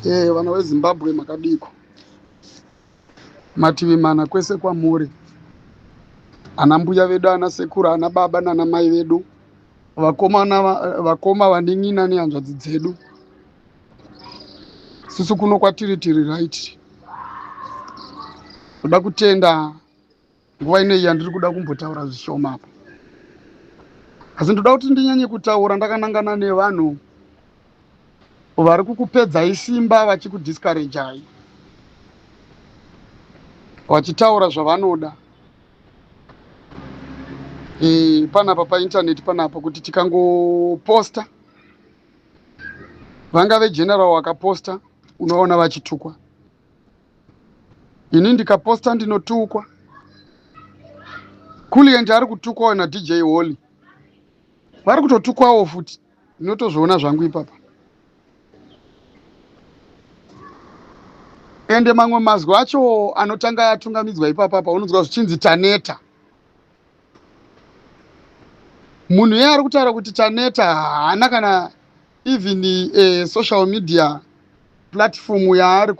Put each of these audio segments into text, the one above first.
e vana wezimbabwe makadiko mativi mana kwese kwamuri ana mbuya vedu ana sekuru ana baba nana mai vedu vakomana vakoma vanin'ina nehanzvadzi dzedu susu kuno kwatiri tiri right toda kutenda nguva ino iyi yandiri kuda kumbotaura zvishoma apa asi ndoda kuti ndinyanye kutaura ndakanangana nevanhu vari kukupedzai simba vachikudiskarejai vachitaura zvavanoda e, panapa paintaneti panapa kuti tikangoposta vangave general wakaposta unoona vachitukwa ini ndikaposta ndinotukwa kulienje ari kutukwawo nadj holy vari kutotukwawo futi ndinotozviona zvangu ipapa ende mamwe mazwi acho anotanga atungamidzwa ipapapa unonzwa zvichinzi taneta munhu yeye ari kutaura kuti taneta haana kana even uh, social media platform yaari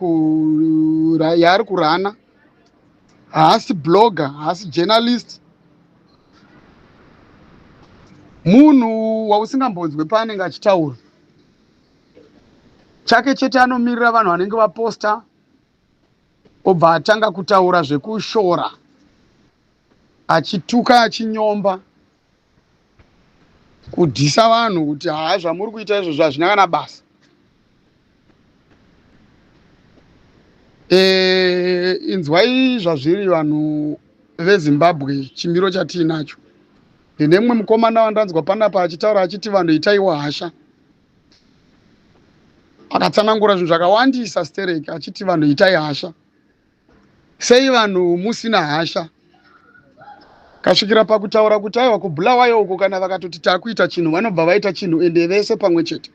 yaari kurana haasi blogger haasi journalist munhu wausingambonzwe paanenge achitaura chake chete anomirira vanhu vanenge vaposta obva atanga kutaura zvekushora achituka achinyomba kudhisa vanhu kuti haa zvamuri kuita izvozvo hazvina kana basa e, inzwai zvazviri vanhu vezimbabwe chimiro chatiinacho ndine mumwe mukomana wandanzwa panapa achitaura achiti vanhu itaiwo hasha akatsanangura zvinhu zvakawandisa stereki achiti vanhu itai hasha Sei vanhu musina hasha kasvikira pakutaura kuti aiwa kubulawayo uko kana vakatoti takuita chinhu vanobva vaita chinhu ende vese pamwe chete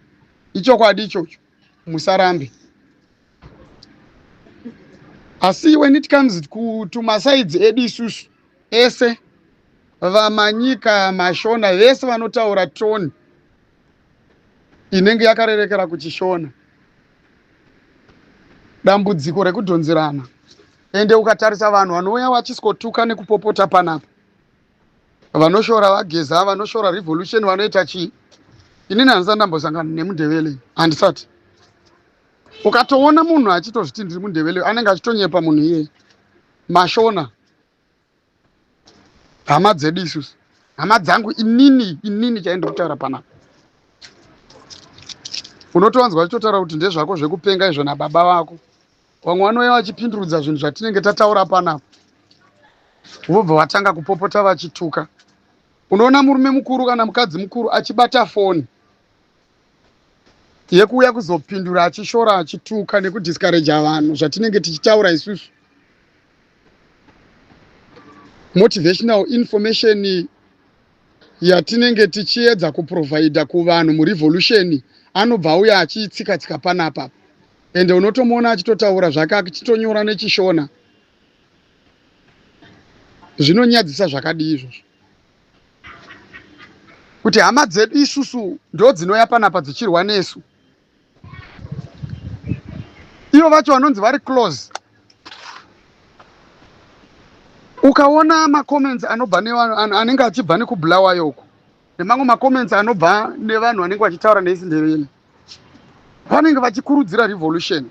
ichokwadi ichocho musarambe asi when it comes kutumasaidzi edu isusu ese vamanyika mashona vese vanotaura toni inenge yakarerekera kuchishona dambudziko rekudhonzerana ende ukatarisa vanhu vanouya vachisikotuka nekupopota panapa vanoshora vageza vanoshora revolution vanoita chii inini handisati ndambosangana nemundevele handisati ukatoona munhu achitozviti ndiri mundevele anenge achitonyepa munhu iyeye mashona hama dzedu isusu hama dzangu inini inini chaindi kutaura panapa unotowanzwa vachitotaura kuti ndezvako zvekupenga izvo nababa vako vamwe vanouya vachipindurudza zvinhu zvatinenge tataura panapa vobva vatanga kupopota vachituka unoona murume mukuru kana mukadzi mukuru achibata foni yekuuya kuzopindura achishora achituka nekudiscouraja vanhu zvatinenge tichitaura isusu motivational information yatinenge tichiedza kuprovhaidha kuvanhu murevolution anobva auya achiitsika tsika panapa ende unotomuona achitotaura zvake achitonyora nechishona zvinonyadzisa zvakadii izvozvo kuti hama dzedu isusu ndodzinouya panapa dzichirwa nesu ivo vacho vanonzi vari close ukaona macomments anobva nevanhu anenge achibva nekubulawayo uku nemamwe macomments anobva nevanhu vanenge vachitaura neisindeveni vanenge vachikurudzira revolution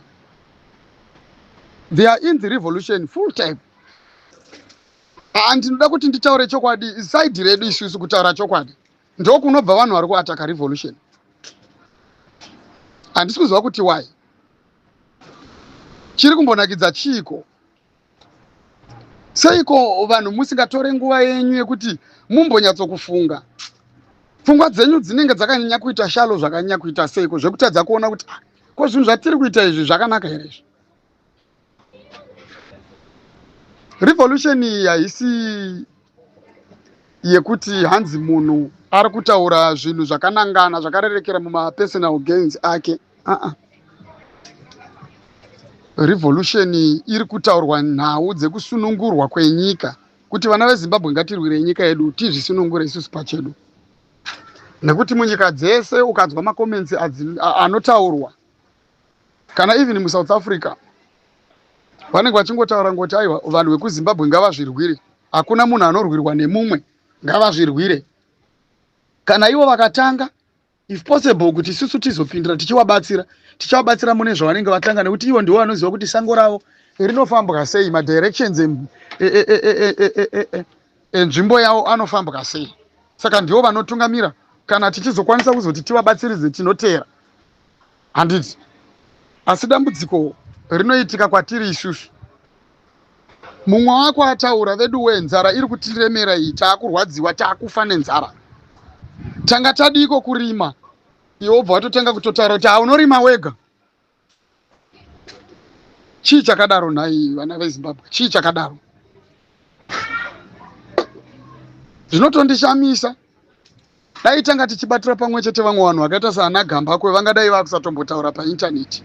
they are in the revolution full time Haa ndinoda kuti nditaure chokwadi isaidi redu isusu kutaura chokwadi ndokunobva vanhu vari kuataka revolution handisi kuziva kuti why chiri kumbonakidza chiiko seiko vanhu musingatore nguva yenyu yekuti mumbonyatsokufunga pfungwa dzenyu dzinenge dzakanyanya kuita shalo zvakanyanya kuita seiko zvekutadza kuona kuti ah, ko zvinhu zvatiri kuita izvi zvakanaka here izvi revolution iyi haisi yekuti hanzi munhu ari kutaura zvinhu zvakanangana zvakarerekera mumapersonal gains ake aa uh -uh. revolution iri kutaurwa nhau dzekusunungurwa kwenyika kuti vana vezimbabwe ngatirwirei nyika yedu tizvisunungure isusu pachedu nekuti munyika dzese ukanzwa makomensi anotaurwa kana even musouth africa vanenge vachingotaura ngoti aiwa vanhu vekuzimbabwe ngavazvirwire hakuna munhu anorwirwa nemumwe ngavazvirwire kana ivo vakatanga if possible kuti isusu tizopindira tichivabatsira tichivabatsira mune zvavanenge vatanga nekuti ivo ndivo vanoziva kuti sango ravo rinofambwa sei madirections enzvimbo yavo anofambwa sei saka ndivo vanotungamira kana tichizokwanisa kuzoti tivabatsiridze tinoteera Handiti? Asi dambudziko rinoitika kwatiri isusu. Mumwe wako ataura, veduwee, nzara iri kutiremera iyi, takurwadziwa, takufa nenzara. Tanga tadiiko kurima? Iwe wobva watotanga kutotaura kuti haunorima wega. Chii chakadaro nhai vana veZimbabwe? Chii chakadaro? Zvinotondishamisa. Dai tanga tichibatira pamwe chete vamwe vanhu vakaita saana Gambakwe vangadai vakusatombotaura paintaneti.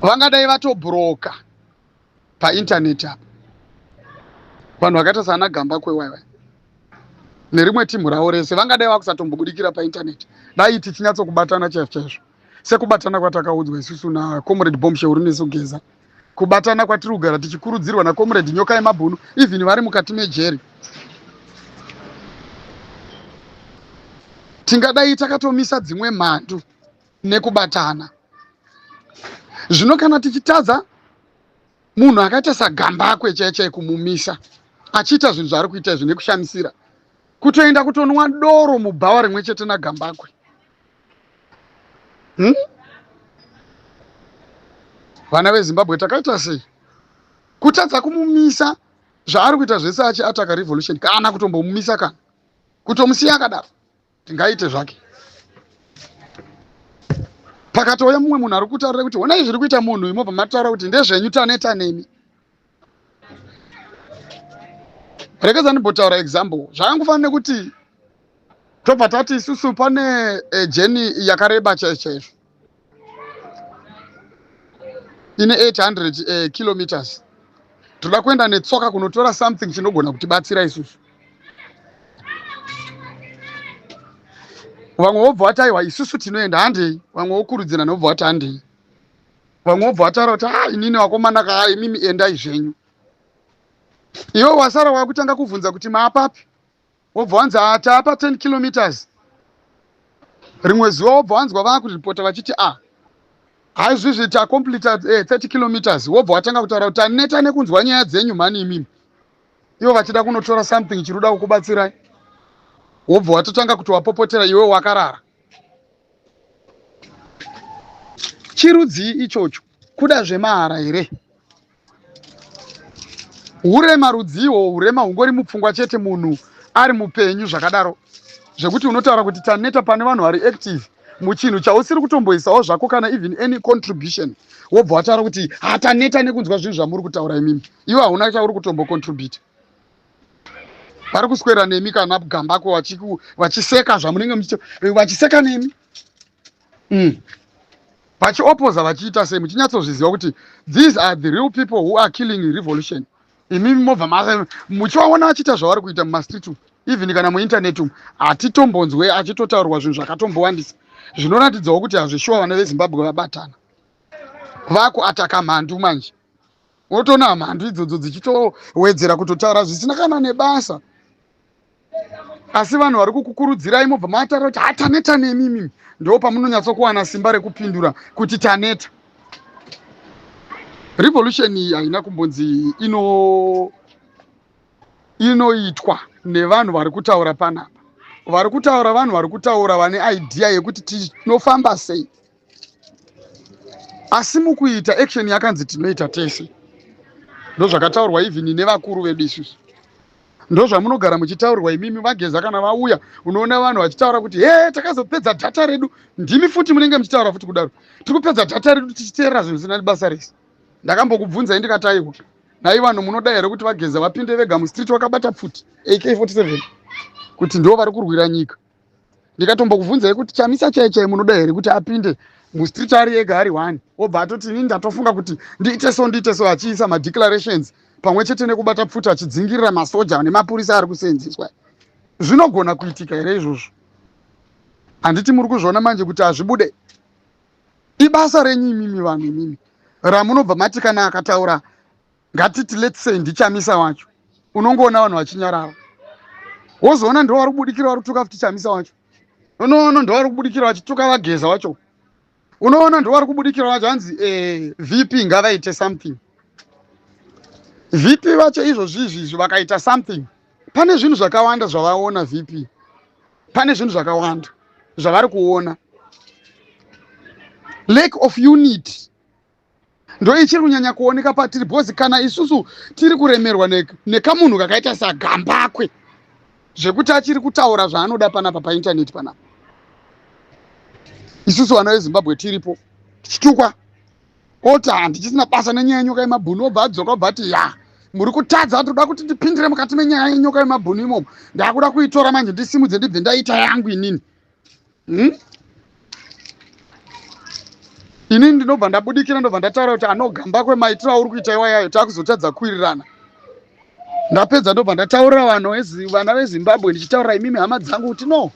Vangadai vatobroka paintaneti apa. Vanhu vakaita saana Gambakwe waiwai nerimwe timhu ravo rese vangadai vakusatombobudirira paintaneti dai tichinyatsokubatana chaizvo chaizvo. sekubatana kwatakaudzwa isusu nacomrade bombshell uri nesogeza kubatana kwatiri kugara tichikurudzirwa nacomrade nyoka yemabhunu even vari mukati mejeri tingadai takatomisa dzimwe mhandu nekubatana zvino kana tichitadza munhu akaita sagambakwe chai chai kumumisa achiita zvinhu zvaari kuita izvi nekushamisira kutoenda kutonwa doro mubhawa rimwe chete nagambakwe hmm? vana vezimbabwe takaita sei kutadza kumumisa zvaari kuita zvese achi ataka revolution kana kutombomumisa kana kutomusiya akadaro tingaite zvake pakatouya mumwe munhu ari kutaurira kuti honai zviri kuita munhu imobva mataura kuti ndezvenyu taneta nemi rekedza ndimbotaura example zvakangofanira nekuti tobva tati isusu pane eh, jeni yakareba chaizvo chaizvo ine 800 eh, kilometers toda kuenda netsoka kunotora something chinogona kutibatsira isusu vamwe vobva vati aiwa isusu tinoenda handei vamwe vokurudzirana vobva vati handei vamwe wobva wataura kuti ha ah, inini wakomana kaa imimi endai zvenyu iwe wasara wakutanga kuvhunza kuti maapapi wobva wanzi ah, taapa 10 kilometers rimwe zuva wobva wanzwa vakuripota vachiti a ah, haizvizvi tacompleta 30 eh, kilometers wobva watanga kutaura kuti aneta nekunzwa nyaya dzenyu mhani imimi ivo vachida kunotora something chiri kuda kukubatsirai wobva watotanga kuti wapopotera iwe wakarara chirudzii ichocho kuda zvemahara here urema rudziiwo urema hungori mupfungwa chete munhu ari mupenyu zvakadaro zvekuti unotaura kuti taneta pane vanhu vari active muchinhu chausiri kutomboisawo zvako kana even any contribution wobva wataura kuti hataneta nekunzwa zvinhu zvamuri kutaura imimi iwe hauna chauri kutombocontribute vari kuswera nemi kana gambako vachiseka zvamunenge muchita eh, vachiseka nemi mm. vachiopoza vachiita sei muchinyatsozviziva kuti these are the real people who are killing revolution imi mobva muchivaona achiita zvavari kuita mumastreet umu even kana muinternet umu hatitombonzwe achitotaurwa zvinhu zvakatombowandisa zvinoratidzawo kuti hazvishuwa vana vezimbabwe vabatana vakuataka mhandu manje wotoona mhandu idzodzo dzichitowedzera kutotaura zvisina kana nebasa asi vanhu vari kukukurudzirai mobva matara kuti hataneta nemi imimi ndo pamunonyatsokuwana simba rekupindura kuti taneta revolution iyi haina kumbonzi ino inoitwa nevanhu vari kutaura panapa vari kutaura vanhu vari kutaura vane idea yekuti tinofamba sei asi mukuita action yakanzi tinoita tese ndozvakataurwa even nevakuru vedu isusu ndozvamunogara muchitaurwa imimi vageza kana vauya unoona vanhu vachitaura kuti he takazopedza dhata redu ndimi futi munenge muchitaura futi kudaro tiri kupedza dhata redu tichiteerera zvinhu zvisina basa rese ndakambokubvunzai ndikataiwa nai vanhu munoda here kuti vageza vapinde vega mustreet wakabata pfuti ak 47 kuti ndo vari kurwira nyika ndikatombokubvunzai kuti chamisa chai chai munoda here kuti apinde mustreet ari ega ari one obva atoti ini ndatofunga kuti ndiite so ndiite so achiisa madeclarations pamwe chete nekubata pfuta achidzingirira masoja nemapurisa ari kuseenzeswa zvinogona kuitika here izvozvo handiti muri kuzviona manje kuti hazvibude ibasa renyu imimi vanhu imimi ramunobva mati kana akataura ngatiti let's say ndichamisa wacho unongoona vanhu vachinyarara wozoona ndo vari kubudikira vari kutuka futi chamisa wacho unoona ndo vari kubudikira vachituka vageza wacho unoona ndo vari kubudikira vacho hanzi eh, vp ngavaite something vp vacho izvozvi izvizvi vakaita something pane zvinhu zvakawanda zvavaona vp pane zvinhu zvakawanda zvavari kuona lake of unity ndoichiri kunyanya kuoneka patiri bhozi kana isusu tiri kuremerwa nekamunhu kakaita sagambakwe zvekuti achiri kutaura zvaanoda panapa paintaneti panapa isusu vana vezimbabwe tiripo tichitukwa oti handichisina basa nenyaya yenyoka yemabhunu obva adzoka obva ati ya muri kutadza ndoda kuti ndipindire mukati menyaya yenyoka yemabhunu imomo ndakuda kuitora manje ndisimudze ndibve ndaita yangu inini hmm? ini ndinobva ndabudikira ndobva ndataura kuti anogamba kwemaitiro auri kuita iwayayo takuzotadza kuwirirana ndapedza ndobva ndataurira vanhu vana vezimbabwe ndichitaurira imimi hama dzangu kuti no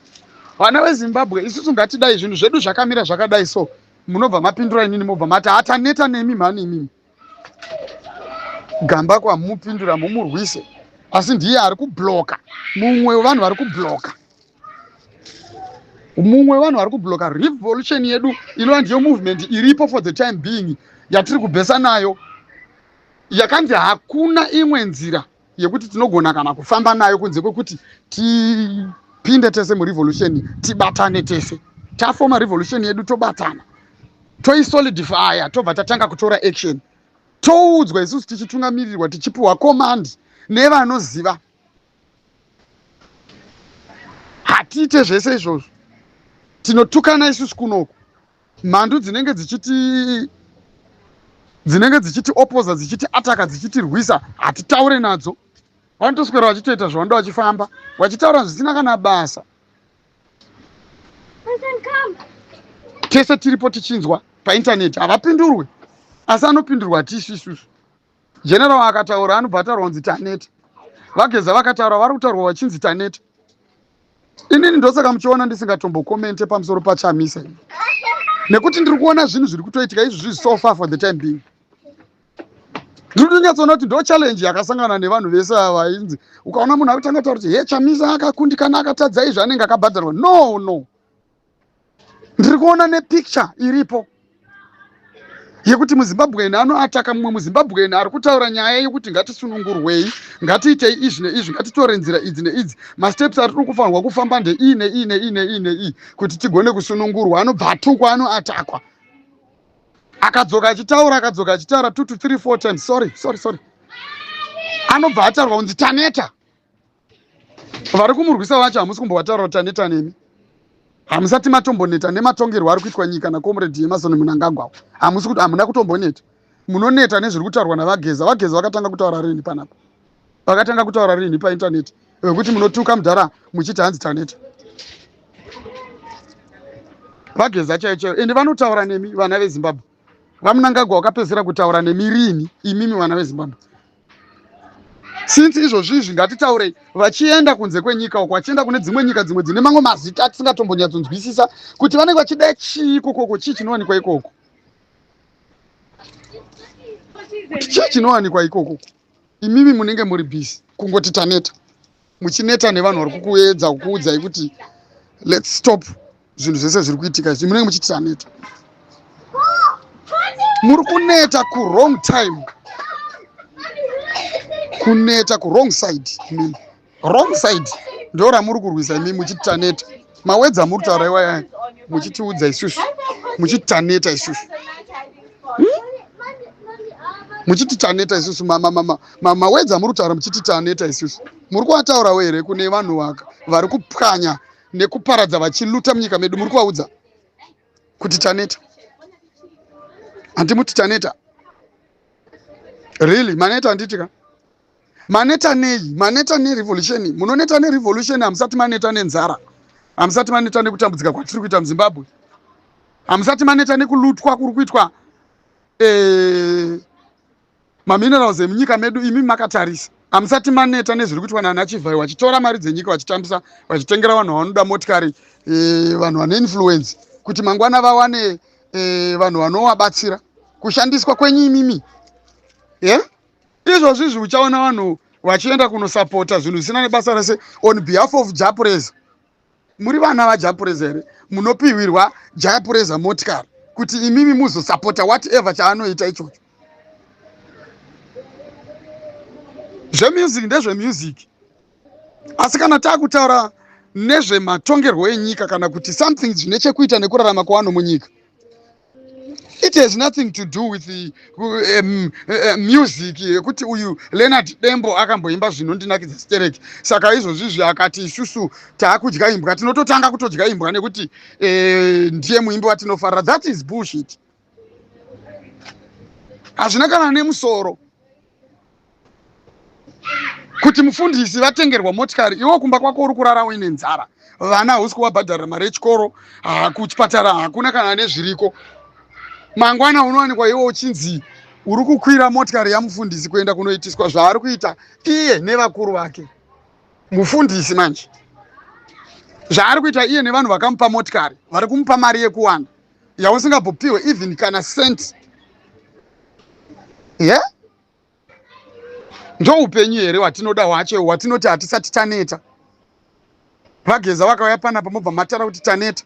vana vezimbabwe isusu ngatidai zvinhu zvedu zvakamira zvakadai so munobva mapindura inini mobva mati hataneta nemi mhani imimi gamba kwamupindura mumurwise asi ndiye ari kubloka mumwe wevanhu vari kubloka mumwe wevanhu vari kubloka revolution yedu inova ndiyo movement iripo for the time being yatiri kubhesa nayo yakanzi hakuna imwe nzira yekuti tinogona kana kufamba nayo kunze kwekuti tipinde tese murevolution tibatane tese tafoma revolution yedu tobatana toisolidifya tobva tatanga kutora action toudzwa isusu tichitungamirirwa tichipiwa command nevanoziva hatiite zvese izvozvo tinotukana isusu kunoku mhandu dzinenge dzichiti dzinenge dzichiti opoza dzichiti ataka dzichitirwisa hatitaure nadzo vanotoswera vachitoita zvavanode vachifamba vachitaura zvisina kana basa tese tiripo tichinzwa paintaneti havapindurwe asi anopindurwa hatisu isusu General akataura anobva ataurwa kunzi taneta. Vageza vakataura vari kutaurwa vachinzi taneta. Inini ndosaka muchiona ndisingatombokomente pamusoro pachamisa ini nekuti ndiri kuona zvinhu zviri kutoitika izvi zviri so far for the time being ndiri kutonyatsoona kuti ndo challenge yakasangana nevanhu vese ava vainzi ukaona munhu akutanga taura kuti he chamisa akakundikana akatadza izvi anenge akabhadharwa no no ndiri kuona nepicture iripo yekuti muzimbabwean anoataka mumwe muzimbabwean ari kutaura nyaya yekuti ngatisunungurwei ngatiitei izvi neizvi ngatitore nzira idzi neidzi masteps atiri kufanirwa kufamba ndeiyi neiyi neiyi neiyi neiyi kuti tigone kusunungurwa anobva atukwa anoatakwa akadzoka achitaura akadzoka achitaura two to three four times sorry sorry sorry anobva atarwa kunzi taneta vari kumurwisa vacho hamusi kumbovataura kuti taneta nemi hamusati matomboneta nematongerwo ari kuitwa nyika nakomredi yemasoni munangagwawo hamusi kuti hamuna kutomboneta munoneta nezviri kutaurwa navageza vageza vakatanga kutaura rini panapa vakatanga kutaura rini paintaneti vekuti munotuka mudhara muchiti hanzi taneta vageza chaiyo chaiyo ende vanotaura nemi vana vezimbabwe vamunangagwa wakapedzisira kutaura nemi rini imimi vana vezimbabwe since izvozvizvi ngatitaurei vachienda kunze kwenyika uko vachienda kune dzimwe nyika dzimwe dzine mamwe mazita atisingatombonyatsonzwisisa kuti vanenge vachida chii ikokoko chii chinowanikwa ikoko kuti chii chinowanikwa ikokoko imimi munenge muri bhisi kungoti taneta muchineta nevanhu vari kukuedza kukuudzai kuti let's stop zvinhu zvese zviri kuitika izvi munenge muchiti taneta muri kuneta kuwrong time kuneta kuwrong side imimi wrong side ndo ramuri kurwisa imimi muchiti taneta mawedza muri kutaura iwaya muchitiudza isusu muchiti taneta isusu hmm? muchiti taneta isusu mama mama mama wedza muri kutaura muchiti taneta isusu muri kuataurawo here kune vanhu vaka vari kupwanya nekuparadza vachiluta munyika medu muri kuvaudza kuti taneta handimuti taneta really maneta handiti ka maneta nei maneta nerevolution munoneta nerevolution hamusati maneta nenzara hamusati maneta nekutambudzika kwatiri kuita muzimbabwe hamusati maneta nekulutwa kuri kuitwa eh, maminerals emunyika medu imi makatarisa hamusati maneta nezviri kuitwa nana chivhai wachitora mari dzenyika vachitambisa vachitengera vanhu vavanoda motikari e, vanhu vane influence kuti mangwana vawane e, vanhu vanovabatsira kushandiswa kwenyu imimi yeah? izvozvi izvi uchaona vanhu vachienda kunosapota zvinhu zvisina nebasa rese on behalf of japresa muri vana vajapureza here munopihwirwa jayapureza motikari kuti imimi muzosapota whatever chaanoita ichocho zvemusic ndezvemusic asi kana taakutaura nezvematongerwo enyika kana kuti something zvine chekuita nekurarama kwevanhu munyika it has nothing to do with the, uh, um, uh, music yekuti uyu leonard dembo akamboimba zvinondinakidza stereki saka izvozvizvi akati isusu taakudya imbwa tinototanga kutodya imbwa nekuti uh, ndiye muimbi watinofarira that is bullshit hazvina kana nemusoro kuti mufundisi vatengerwa motikari iwo kumba kwako uri kurara uine nzara vana hausi kuvabhadharira mari yechikoro kuchipatara hakuna kana nezviriko mangwana unowanikwa iwo uchinzi uri kukwira motikari yamufundisi kuenda kunoitiswa zvaari kuita iye nevakuru vake mufundisi manje zvaari kuita iye nevanhu vakamupa motikari vari kumupa mari yekuwana yausingabopiwe even kana cent ye yeah? ndoupenyu here watinoda wacho watinoti hatisati taneta vageza vakauya panapa mobva matara kuti taneta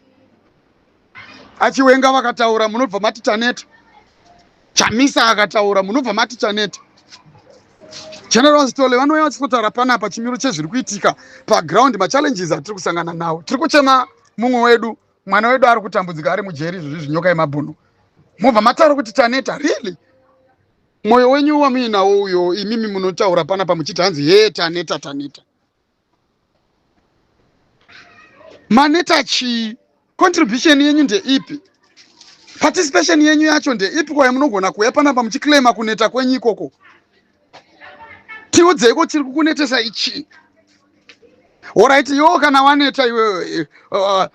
achiwenga vakataura munobva mati taneta chamisa akataura munobva mati taneta general stole vanouya vachitotaura panapa chimiro chezviri kuitika paground machallenges atiri kusangana nawo tiri kuchema mumwe wedu mwana wedu ari kutambudzika ari mujeri izvozvi zvinyoka yemabhunu mobva mataura kuti taneta really Moyo wenyu wamuinawo uyo imimi munotaura pana pamuchiti hanzi hee taneta taneta. Maneta chii? Contribution yenyu ndeipi? Participation yenyu yacho ndeipi kwayo munogona kuuya pana pamuchiclaima kuneta kwenyu ikoko? Tiudzeiko chiri kukunetesa ichii? Alright, yo kana waneta iwe uh,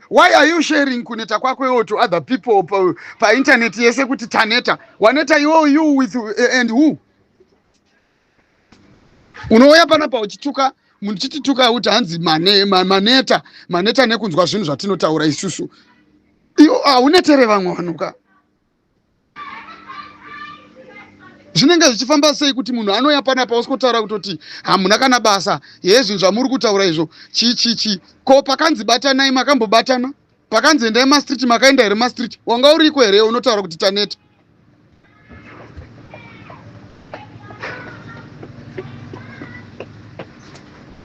why are you sharing kuneta kwako iwo to other people pa, pa internet yese kuti taneta waneta iwo you with uh, and who unouya panapa uchituka muchitituka kuti hanzi mane, ma, maneta maneta nekunzwa zvinhu zvatinotaura isusu iwo haunetere vamwe vanhuka zvinenge zvichifamba sei kuti munhu anouya panapa osikotaura kutoti hamuna kana basa hezvinhu zvamuri kutaura izvo chii chii chii ko pakanzi batanai makambobatana pakanzi endai mastreet makaenda here mastreet wanga uriko here unotaura kuti taneta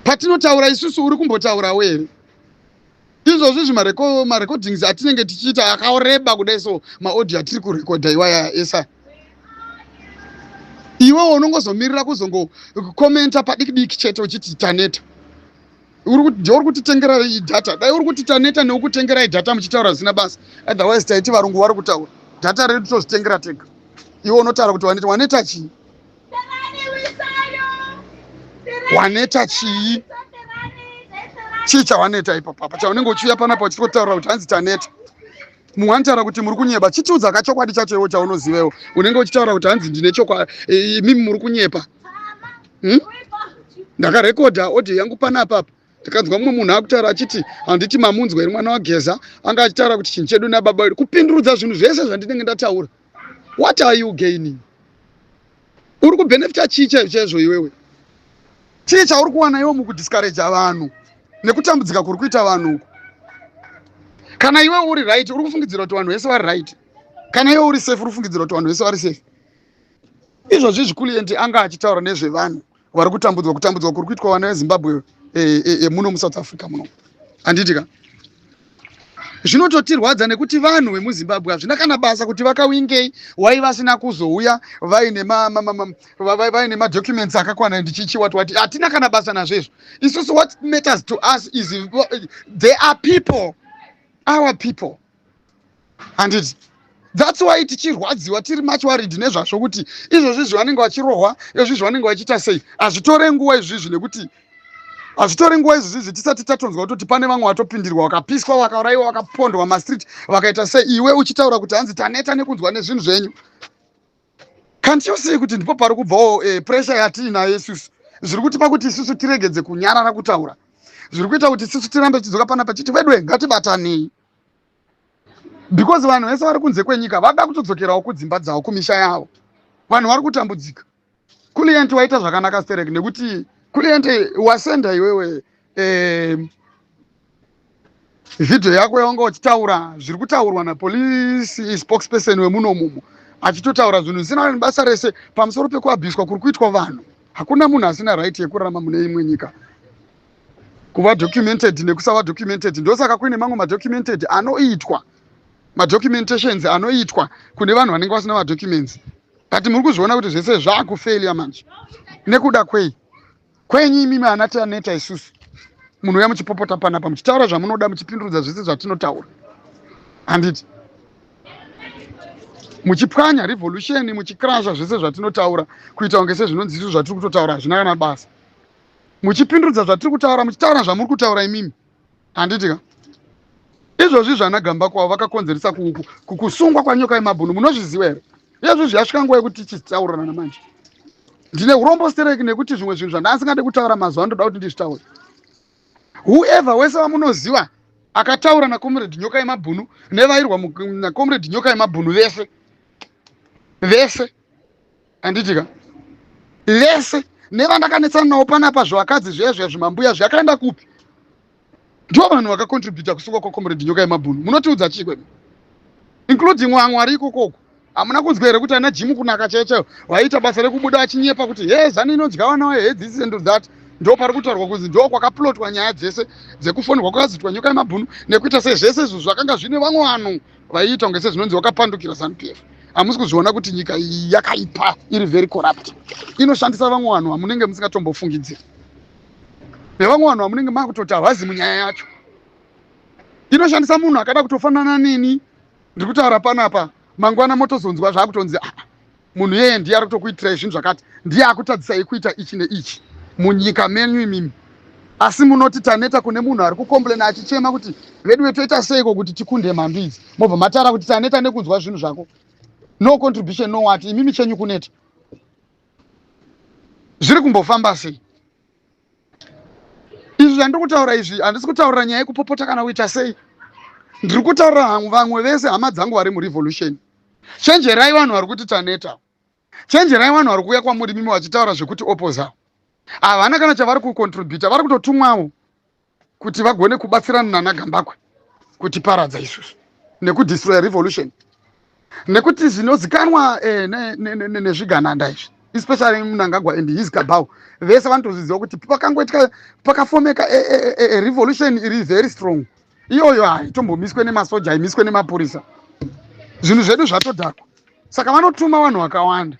patinotaura isusu uri kumbotaurawo here izvozvi zvimarecordings atinenge tichiita akaoreba kudai so maaudio atiri kurekodha iwaya esa iwewo unongozomirira kuzongokomenta padiki diki chete uchiti taneta uri kutitengera data dai uri kuti taneta neukutengera idata muchitaura zvisina basa otherwise taiti varungu vari kutaura data redu tozvitengera tega iwe unotaura kuti waneta waneta chii waneta chii chii chawaneta ipapo apa chaunenge uchiuya panapa uchiti kutaura kuti hanzi taneta mumwe anotaura kuti muri kunyeba chitiudza ka chokwadi chacho iwo chaunozivewo unenge uchitaura kuti hanzi ndine chokwadi imimi muri kunyepa hmm? ndakarekodha audio yangu panapa apa tikanzwa mumwe munhu akutaura achiti handiti mamunzwa iri mwana wageza anga achitaura kuti chinhu chedu nababa wedu kupindurudza zvinhu zvese zvandinenge ndataura what are you gaining uri kubenefita chii chaizvo chaizvo iwewe chii chauri kuwana iwe mukudiscouraja vanhu nekutambudzika kuri kuita vanhu uku kana iwe uri right uri kufungidzira kuti vanhu vese vari right kana iwe uri safe uri kufungidzira kuti vanhu vese vari safe izvozvi zvikulienti anga achitaura nezvevanhu vari kutambudzwa kutambudzwa kuri kuitwa vana vezimbabwe yemuno eh, eh, eh, musouth africa muno handiti ka zvinototirwadza nekuti vanhu vemuzimbabwe hazvina kana basa kuti vakawingei wai vasina kuzouya vaine madocuments akakwana ndichichi wati wati hatina kana basa nazvo izvo isusu what matters to us is there are people our people handiti thats why tichirwadziwa tiri much worried nezvazvo kuti izvozvi izvi vanenge vachirohwa izvozvi izvi vanenge vachiita sei hazvitore nguva izvizvi nekuti hazvitore nguva izvizvi tisati tatonzwa kutoti pane vamwe vatopindirwa vakapiswa vakauraiwa vakapondwa mastreet vakaita sei iwe uchitaura kuti hanzi taneta nekunzwa nezvinhu zvenyu kanti yosei kuti ndipo pari kubvawo eh, pressure yatiinayo yesusu zviri kuti pakuti isusu tiregedze kunyarara kutaura zviri kuita kuti isusu tirambe tichidzoka panapa chiti vedwe ngatibatanei because vanhu vese vari kunze kwenyika vada kutodzokerawo kudzimba dzavo kumisha yavo vanhu vari kutambudzika kulient waita zvakanaka sterek nekuti kulient wasenda iwewe eh, vhidhiyo yako yaunga uchitaura zviri kutaurwa napolice spokesperson wemuno mumo achitotaura zvinhu zvisina nebasa rese pamusoro pekuabhiswa kuri kuitwa vanhu hakuna munhu asina right yekurarama mune imwe nyika kuva documented nekusava documented ndosaka kuine mamwe madocumented anoitwa madocumentations anoitwa kune vanhu vanenge vasina madocuments but muri kuzviona kuti zvese zvaakufailia manje nekuda kwei kwenyu imimi ana tianeta isusu munhu uya muchipopota panapa muchitaura zvamunoda muchipindurudza zvese zvatinotaura handiti muchipwanya revolution muchikrasha zvese zvatinotaura kuita kunge sezvinonzi izvo zvatiri kutotaura hazvina kana basa muchipindudza zvatiri kutaura muchitaura zvamuri kutaura imimi handiti ka izvozvi zvana gamba kwavo vakakonzeresa kusungwa kwanyoka yemabhunu munozviziva here iyezvo zviyasvika nguva yekuti tichitaurirana manje ndine urombo stereki nekuti zvimwe zvinhu zvandaasingade kutaura mazuva andoda kuti ndizvitaure whoever wese vamunoziva akataura nacomrade nyoka yemabhunu nevairwa nacomrade nyoka yemabhunu vese vese handiti ka vese nevandakanetsana navo panapa zvivakadzi zviya zviya zvimambuya zviyakaenda kupi ndivo vanhu vakacontributa kusuka kwacomrade nyoka yemabhunu munotiudza chii kwedu including wamwari ikokoko hamuna kunzwa here kuti ana jimu kunaka chaiyo chaiyo vaiita basa rekubuda achinyepa kuti he zanu inodya vana vayo he this and that ndo pari kutaurwa kunzi ndo kwakaplotwa nyaya dzese dzekufonirwa kwakazitwa nyoka yemabhunu nekuita se zvese izvo zvakanga zvine vamwe vanhu vaiita kunge sezvinonzi wakapandukira zanu p f hamusi kuzviona kuti nyika iyi yakaipa iri very corrupt inoshandisa vamwe vanhu vamunenge musingatombofungidziri nevamwe vanhu vamunenge makutoti havazi munyaya yacho inoshandisa munhu akada kutofanana neni ndiri kutaura panapa mangwana motozonzwa zvaakutonzi ah, munhu yeye ndiye ari kutokuitirai zvinhu zvakati ndiye akutadzisai kuita ichi neichi munyika menyu imimi asi munoti taneta kune munhu ari kukomplena achichema kuti veduwe toita seiko kuti tikunde mhandu idzi mobva matara kuti taneta nekunzwa zvinhu zvako no contribution no wati imimi chenyu kuneta zviri kumbofamba sei izvi zvandiri kutaura izvi handisi kutaurira nyaya yekupopota kana kuita sei ndiri kutaurira hangu vamwe vese hama dzangu vari murevolution chenjerai vanhu vari kuti taneta chenjerai vanhu vari kuuya kwamuri mimi vachitaura zvekuti opoza havana kana chavari kucontributa vari kutotumwawo kuti vagone kubatsirana nana gambakwe kutiparadza isusu nekudestroya revolution nekuti zvinozikanwa eh, nezvigananda izvi especially munangagwa and his kabau vese vanotozviziva kuti pakangoitika pakafomeka eh, eh, eh, eh, revolution iri very strong iyoyo haitombomiswe nemasoja haimiswe nemapurisa zvinhu zvedu zvatodhakwa saka vanotuma vanhu vakawanda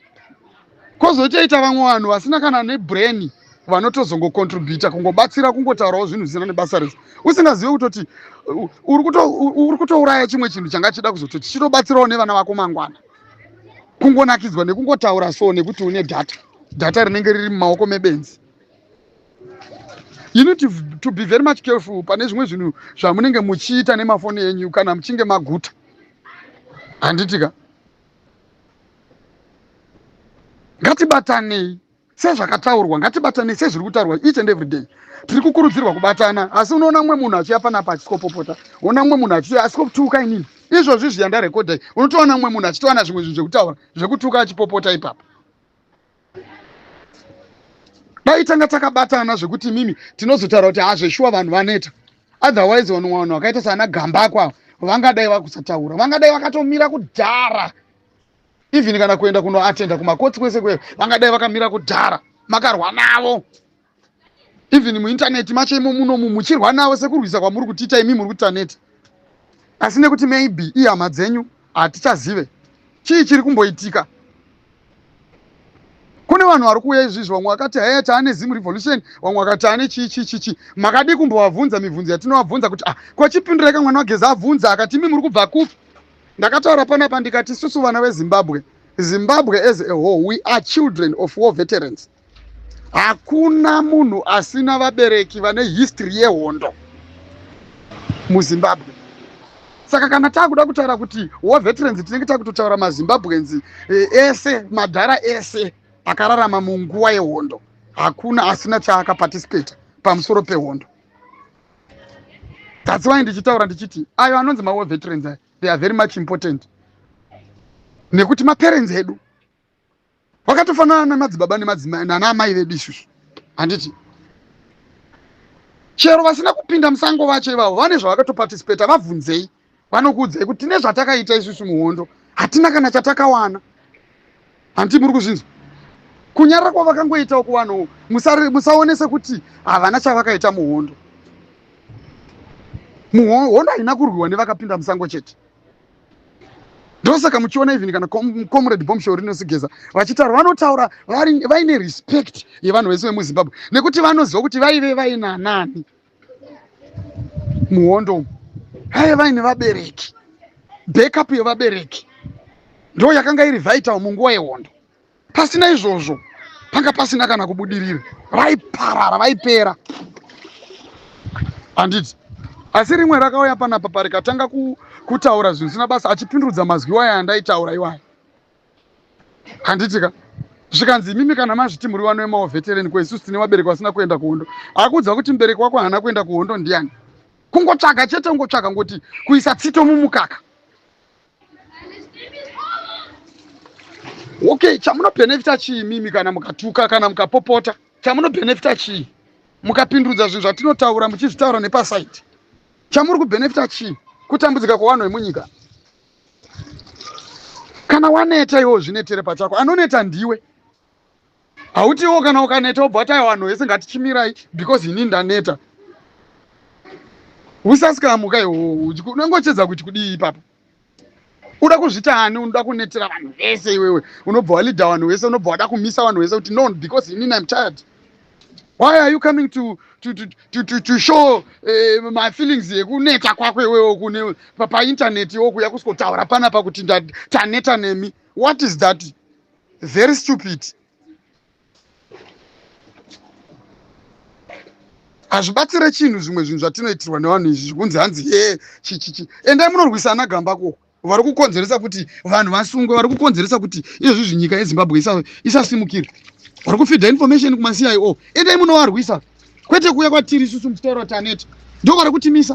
kozotoita vamwe vanhu vasina kana nebrain vanotozongocontributa kungobatsira kungotaurawo zvinhu zvisina nebasa rese usingazive kutoti uri kutouraya chimwe chinhu changa chida kuzoti chichitobatsirawo nevana vako mangwana kungonakidzwa nekungotaura so nekuti une data data rinenge riri mumaoko mebenzi you need to, to be very much careful pane zvimwe zvinhu zvamunenge muchiita nemafoni enyu kana muchinge maguta handitika ngatibatanei sezvakataurwa ngatibatanei sezviri kutaurwa each and every day tiri kukurudzirwa kubatana asi unoona mumwe munhu achiya panapa achisikopopota ona mumwe munhu achiya asikotuka inini izvozvi zviya ndarekodai unotoona mumwe munhu achitowana zvimwe zvinhu zvekutaura zvekutuka achipopota ipapa dai tanga takabatana zvekuti mimi tinozotaura kuti hazveshuwa vanhu vaneta otherwise vanhu vanhu vakaita saana gambako avo vangadai vakusataura vangadai vakatomira kudhara even kana kuenda kunoatenda kumakotsi kwese kwese vangadai vakamira kudhara makarwa navo even muintaneti macho imo munomu muchirwa navo sekurwisa kwamuri kutiita imi muri kutaneti asi nekuti maybe ihama dzenyu hatichazive chii chiri kumboitika kune vanhu vari kuuya izvizvi vamwe vakati haya taane zim revolution vamwe vakati taane chii chii chii chii makadii kumbovabvunza mibvunzo yatinovabvunza kuti ah ko chipindura ika mwana wageza abvunza akati imi muri kubva kupi ndakataura panapa ndikati isusu vana vezimbabwe zimbabwe as a whole we are children of war veterans hakuna munhu asina vabereki vane history yehondo muzimbabwe saka kana taakuda kutaura kuti war veterans tinenge takutotaura mazimbabweans eh, ese madhara ese akararama munguva yehondo hakuna asina chaakaparticipate pamusoro pehondo that's why ndichitaura ndichiti ayo anonzi mawar veterans ayo they are very much important nekuti maparents edu vakatofanana nemadzibaba nemadzimai nana amai vedu isusu handiti chero vasina kupinda musango vacho ivavo vane zvavakatopatisipeta vabvunzei vanokuudzai kuti tine zvatakaita isusu muhondo hatina kana chatakawana handiti muri kuzvinzwa kunyarira kwavakangoitawo kuvanhu musaonese kuti havana chavakaita muhondo muhondo haina kurwiwa nevakapinda musango chete ndosaka muchiona even kana comrade bombshell rinosigeza vachitaura vanotaura vaine respect yevanhu vese vemuzimbabwe nekuti vanoziva kuti vaive vaina nani muhondo umu vaive vaine vabereki backup yevabereki ndo yakanga iri vital munguva yehondo Pasina izvozvo panga pasina kana kubudirira, vaiparara, vaipera handiti? Asi rimwe rakauya panapa parikatanga ku, kutaura zvinhu zvisina basa achipindudza mazwi iwaya andaitaura iwaya handiti ka zvikanzi imimi kana mazviti muri vano vemaovetereni ko isusu tine vabereki vasina kuenda kuhondo akuudza kuti mubereki wako haana kuenda kuhondo ndiani kungotsvaga chete ungotsvaga ngoti kuisa tsito mumukaka okay chamunobhenefita chii mimi kana mukatuka kana mukapopota chamunobhenefita chii mukapindudza zvinhu zvatinotaura muchizvitaura nepasaiti chamuri kubhenefita chii kutambudzika kwevanhu vemunyika kana waneta iwo zvinetere pachako anoneta ndiwe hautiwo kana ukaneta obva wati aiwa vanhu vese ngatichimirai because ini ndaneta usasikamuka iwowo unenge uchedza kuti kudii ipapo uda kuzvita ani unoda kunetera vanhu vese iwewe unobva walida vanhu vese unobva wada kumisa vanhu vese kuti no because ini im tired why are you coming to, to, to, to, to, to show uh, my feelings yekuneta kwako iwewe kune paintaneti iwo kuya kusikotaura panapa kuti taneta nemi what is that very stupid hazvibatsire chinhu zvimwe zvinhu zvatinoitirwa nevanhu izvi zvikunzi hanzi ye chichichi endai munorwisa ana gamba ko vari kukonzeresa kuti vanhu vasungwe vari kukonzeresa kuti izvozvi zvinyika yezimbabwe isasimukire vari kufidha information kumacio endai munovarwisa kwete kuuya kwatiri isusu mutauro taneta ndo vari kutimisa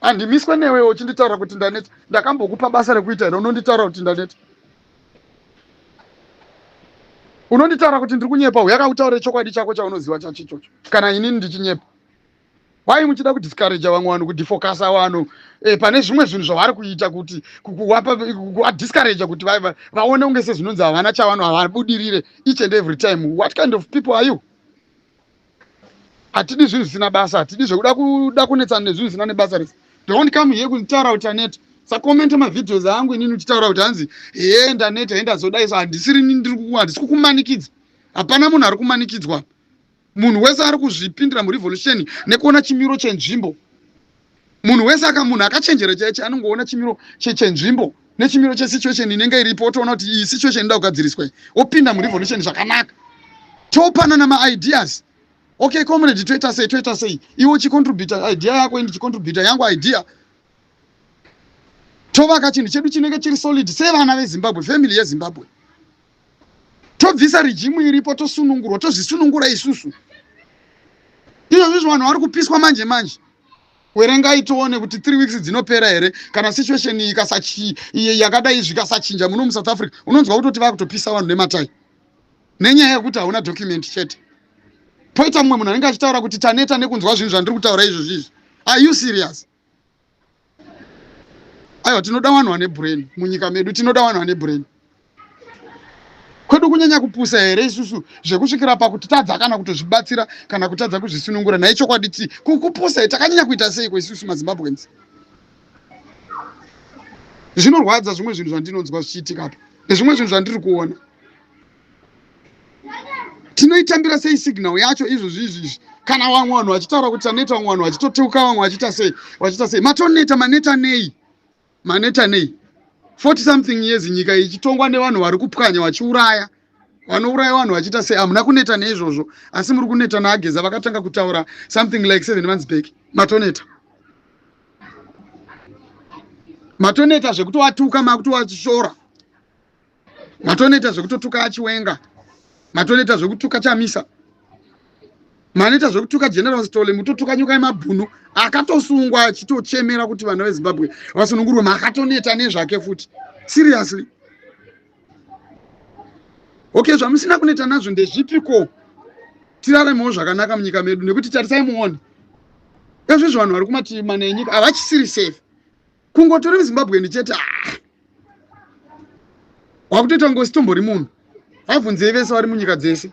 handimiswe newewo uchinditaura kuti ndaneta ndakambokupa basa rekuita here unonditaura kuti ndaneta unonditaura kuti ndiri kunyepa uyaka utaure chokwadi chako chaunoziva chacho ichocho kana inini ndichinyepa why muchida kudiscourage vamwe vanhu kudifocasa vanhu e, pane zvimwe zvinhu zvavari kuita kuti kuadiscourage kuti vaone kunge sezvinonzi havana chavano havabudirire each and every time what kind of people are you hatidi zvinhu zvisina basa hatidi zvekuda kuda kunetsana nezvinhu zvisina nebasa rese don't come here kunditaura kuti aneta sakomenta mavideos angu inini uchitaura kuti hanzi hee ndaneta he ndazodai so handisiri nini ndiri kuku handisi kukumanikidza hapana munhu ari kumanikidzwa munhu wese ari kuzvipindira murevolution nekuona chimiro chenzvimbo munhu wese aka munhu akachenjera chaiche anongoona chimiro chenzvimbo nechimiro chesituation inenge iripo otoona kuti iyi situation inoda kugadziriswa iyi opinda murevolution zvakanaka topanana maideas okay comrade toita sei toita sei iwe uchicontributa idea yako ini ndichicontributa yangu idea tovaka chinhu chedu chinenge chiri solid sevana vezimbabwe family yezimbabwe tobvisa rijimu iripo tosunungurwa tozvisunungura isusu izvozvizvo vanhu vari kupiswa manje manje werengai tione kuti three weeks dzinopera here kana situation yakadai zvikasachinja muno musouth africa unonzwa kutoti vakutopisa vanhu nematai nenyaya yekuti hauna document chete poita mumwe munhu anenge achitaura kuti taneta nekunzwa zvinhu zvandiri kutaura izvozvizvi are you serious aiwa tinoda vanhu vane brain munyika medu tinoda vanhu vane brain kwedu kunyanya kupusa here isusu zvekusvikira pakutitadza kana kutozvibatsira kana kutadza kuzvisunungura nhai chokwadi ti kupusa here takanyanya kuita seiko isusu mazimbabweans zvinorwadza zvimwe zvinhu zvandinonzwa zvichiitika apa nezvimwe zvinhu zvandiri kuona tinoitambira sei signal yacho izvozvi izvi izvi kana vamwe vanhu vachitaura kuti taneta vamwe vanhu vachitoteuka vamwe vachiita sei vachiita sei matoneta maneta nei maneta nei 40 something years nyika ichitongwa nevanhu vari kupwanya vachiuraya vanouraya vanhu vachiita sei hamuna kuneta neizvozvo asi muri kuneta naageza vakatanga kutaura something like seven months back matoneta matoneta zvekutovatuka makutowashora matonoita zvekutotuka achiwenga matonoita zvekutuka chamisa manoita zvekutuka general stole mutotuka nyuka yemabhunu akatosungwa achitochemera kuti vana vezimbabwe vasunungurwe makatoneta nezvake futi seriously okay zvamusina kuneta nazvo ndezvipiko tiraremewo zvakanaka munyika medu nekuti tarisai muone ezvezvo vanhu vari kumativi mana enyika havachisiri safe kungotori muzimbabweni chete ah. wakutoita ngosi tombori munhu vabvunzei vese vari munyika dzese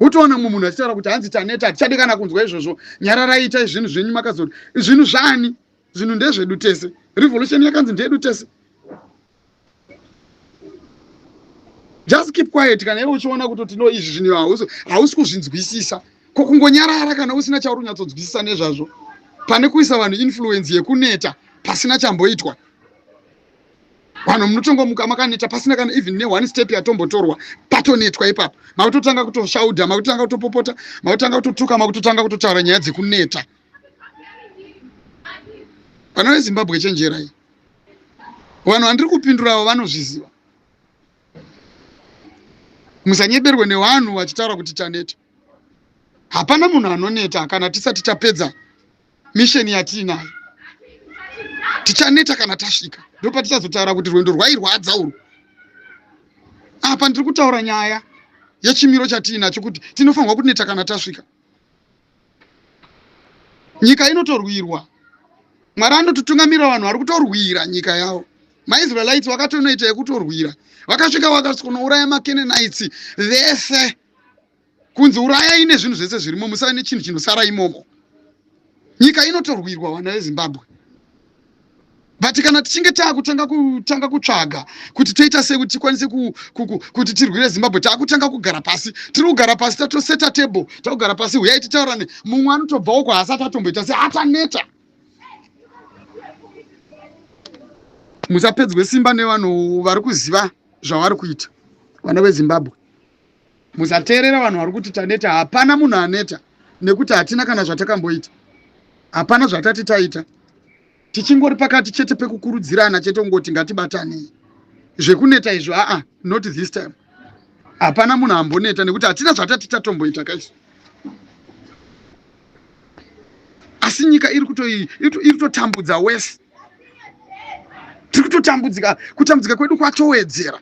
utoona mumwe munhu achitaura kuti hanzi taneta hatichadi kana kunzwa izvozvo nyararai itai zvinhu zvenyu makazoti zvinhu zvaani zvinhu ndezvedu tese revolution yakanzi ndeyedu tese just keep quiet kana iwe uchiona kuti tino izvi zvinhu hausi kuzvinzwisisa ko kungonyarara kana usina chauri unyatsonzwisisa nezvazvo pane kuisa vanhu influence yekuneta pasina chamboitwa vanhu munotongomuka makaneta pasina kana even neone step yatombotorwa patonetwa ipapo makutotanga kutoshauda makutotanga kutopopota makutanga kutotuka makutotanga kutotaura nyaya dzekuneta vana vezimbabwe chenjerai vanhu vandiri kupindura avo vanozviziva musanyeberwe nevanhu vachitaura kuti taneta hapana munhu anoneta kana tisati tapedza misheni yatiinayo tichaneta kana tasvika ndopatichazotaura kuti rwendo rwairwadza urwu apa ndiri kutaura nyaya yechimiro chatiinacho kuti tinofanirwa kuneta kana tasvika nyika inotorwirwa mwari anototungamirira vanhu vari kutorwira nyika yavo maisraelites vakatonoita yekutorwira vakasvika vakasvikonouraya makenenites vese kunzi urayai nezvinhu zvese zvirimo musave nechinhu chinosara imomo nyika inotorwirwa vana vezimbabwe but kana tichinge taakutanga kutanga kutsvaga kuti toita sei kuti tikwanise kuti tirwire zimbabwe taakutanga kugara pasi tiri kugara pasi tatoseta table takugara pasi huyai titaurane mumwe anotobvawo ko haasati atomboita se ataneta musapedzwe simba nevanhu vari kuziva zvavari kuita vana vezimbabwe Musateerera vanhu vari kuti taneta. Hapana munhu aneta nekuti hatina kana zvatakamboita. Hapana zvatati taita. Tichingori pakati chete pekukurudzirana chete kungoti ngatibatanei. Zvekuneta izvo aa not this time. Hapana munhu amboneta nekuti hatina zvatati tatomboita kaisu. Asi nyika iri kutoi iri kutotambudza wese. Tiri kutotambudzika kutambudzika kwedu kwatowedzera.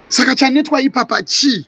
saka chanetwa ipapa chii